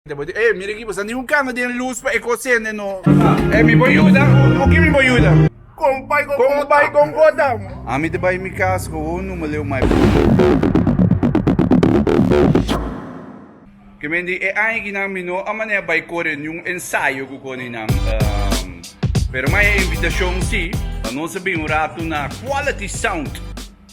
Te bo di, eh, mira aki, bo sa niun kanga den lus pa e kos sende, no. Eh, mi bo yuda? Ku ki mi bo yuda? Kon bai kon kota? Kon bai kon kota? Ami ta bai mi kas ku un numaleu mai Ke men di, e aña akinan mi no a manera bai kore niun ensayo ku koninan, pero mai e invitashon si, pa nos a bin un ratu na Quality Sound.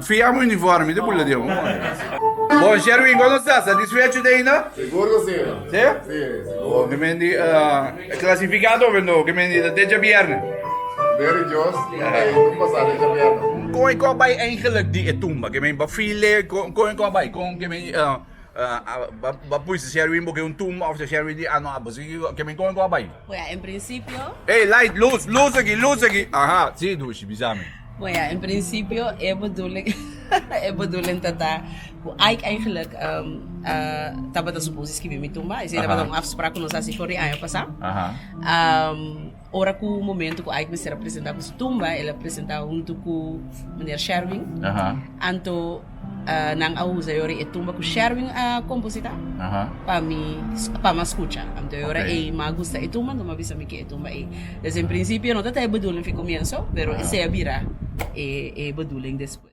Fia mi uniforme di bula dia bo. Bon Sherwin, como está? Satisfecho de ainda? Seguro sí. Sí? Sí, seguro. Oh, que me di, uh, clasificado, vendo, que me di, de deja viernes. Very Dios, eh, tumba sa deja viernes. Con e coba e eigenlijk di e tumba, que me di, bafile, con, con e coba, con, que me di, uh, Ba pui se sherwin boke un tumba of se sherwin di ano a bosiki go ke men kon go a bai? Bon ya, en prinsipio. Ey, light, luz, luz aki, luz aki. Aha, si Dushi, bisa mi. Bon ya, en prinsipio e bedoeling, e bedoeling tata ku Ike eigenlijk tabata suposo skibi mi tumba. Esei tabata un afsprak ku nos hasi for di aña pasa. Ora ku momento ku Ike mester a presentá ku su tumba, el a presentá huntu ku Meneer Sherwin. Aha. Anto nan a usa e ora e tumba ku Sherwin a kompositá Aha. pa mi, pa mi a skucha. Anto e ora Ok. ei mi a gusta e tumba, anto mi a bisa mi ke e tumba ei. Desde un principio no ta ta e bedoeling for e komienso, pero esei a bira e e bedoeling despues.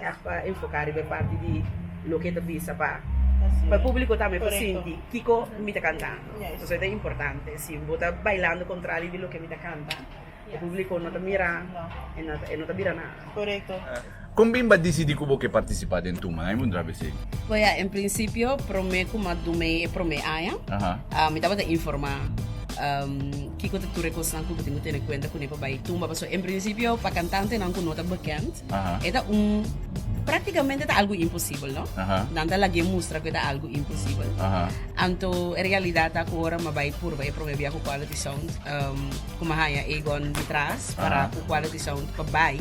Graag pa enfoká riba e parti di loke e ta bisa pa e públiko tambe por sinti kiko mi ta kantando. Pasobra e ta importante. Si bo ta bailando kontrario di loke mi ta kanta, e públiko no ta mira, e no ta bira nada. Kon bimba a disidí ku bo ke partisipá den Tuma? Nan e undrá besé. Bo ya, en prinsipio promé ku Madumey e promé aña, mi tabata informá. Kiko ta tur e kosnan ku bo tin ku tene kuenta kuné pa bai tumba? Pasobra en prinsipio pa kantantenan ku no ta bekend e ta un praktikamente ta algu imposibel, no? Nan ta lagu'é mustra ku e ta algu imposibel. Anto e realidat ta ku ora mi a bai purba e promé bia ku Quality Sound ku mi a haña Egon di tras para ku Quality Sound pa bai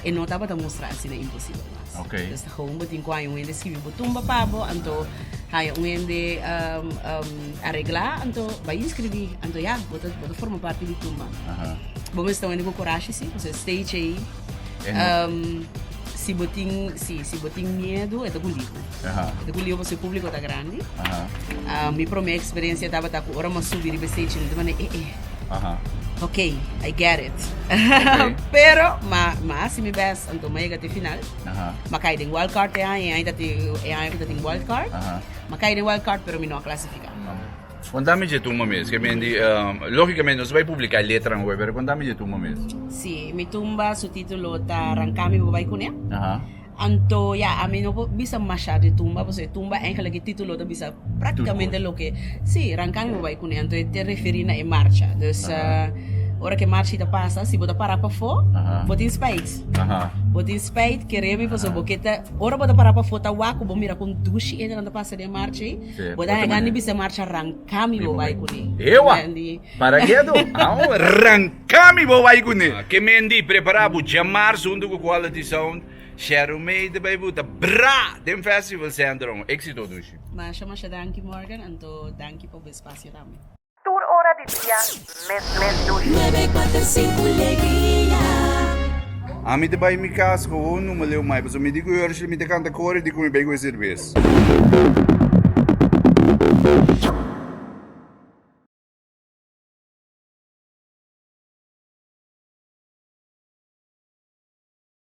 e no tabata mustra asina imposibel. Okay. Esta joven bo tin cu aña un hende escribi bo tumba pa bo, anto haya un hende um, um, arregla, anto va inscribi, anto ya, bo ta, bo ta forma parte di tumba. Aha. Bo me sta un hende cu coraje, si, o sea, stage ahí. En no- Um, si bo tin, si, si bo tin miedo, eta guliu. Aha. Eta guliu, bo se público ta grande. Aha. Ah, mi primer experiencia estaba ta cu ora mas subir riba stage, mi te mane, eh, eh, Aha. ok, I get it. Okay. Pero, ma, ma, si mi best. Santo Tome a yega te final. Mi a kai den wildcard e aña, e aña ta tin e aña ku ta tin wildcard. Mi a kai den wildcard pero mi no a klasifiká. Konta mi dje tuma mes, ke men di, lógikamente nos bai publiká letranan hopi, pero konta mi dje tuma mes. Sí, mi tumba su título ta Rancá mi bo bai kuné. Anto ya, ami no por bisa mashá di tumba, pasobra e tumba, eigenlijk e título ta bisa. Práktikamente loke sí, Rancagua bo bai kuné, anto e ta referí na e marcha. Dus ora ku e marcha ta pasa, si bo ta pará pafó, bo tin spijt. Bo tin spijt, kere mi pasobra bo ke ta, ora bo ta pará pafó ta wak ku bo mira kon dushi entenan ta pasa den e marcha ei, bo ta haga ni bisha e marcha ranká mi bo bai kuné. Ewa! Para ke ato? Awo, ranká mi bo bai kuné. Ke mende prepará bo djamarsu huntu ku Quality Sound. Sharon May ta bai buta bra den festival center un exito dushi. Masha masha danki Morgan anto danki pa bo espacio tambe. Tur ora di dia mes mes dushi. Ami ta bai mi cas cu un numa leu mai pasobra mi di cu Urshela mi ta canta cori di cu mi bai cu e cerveza.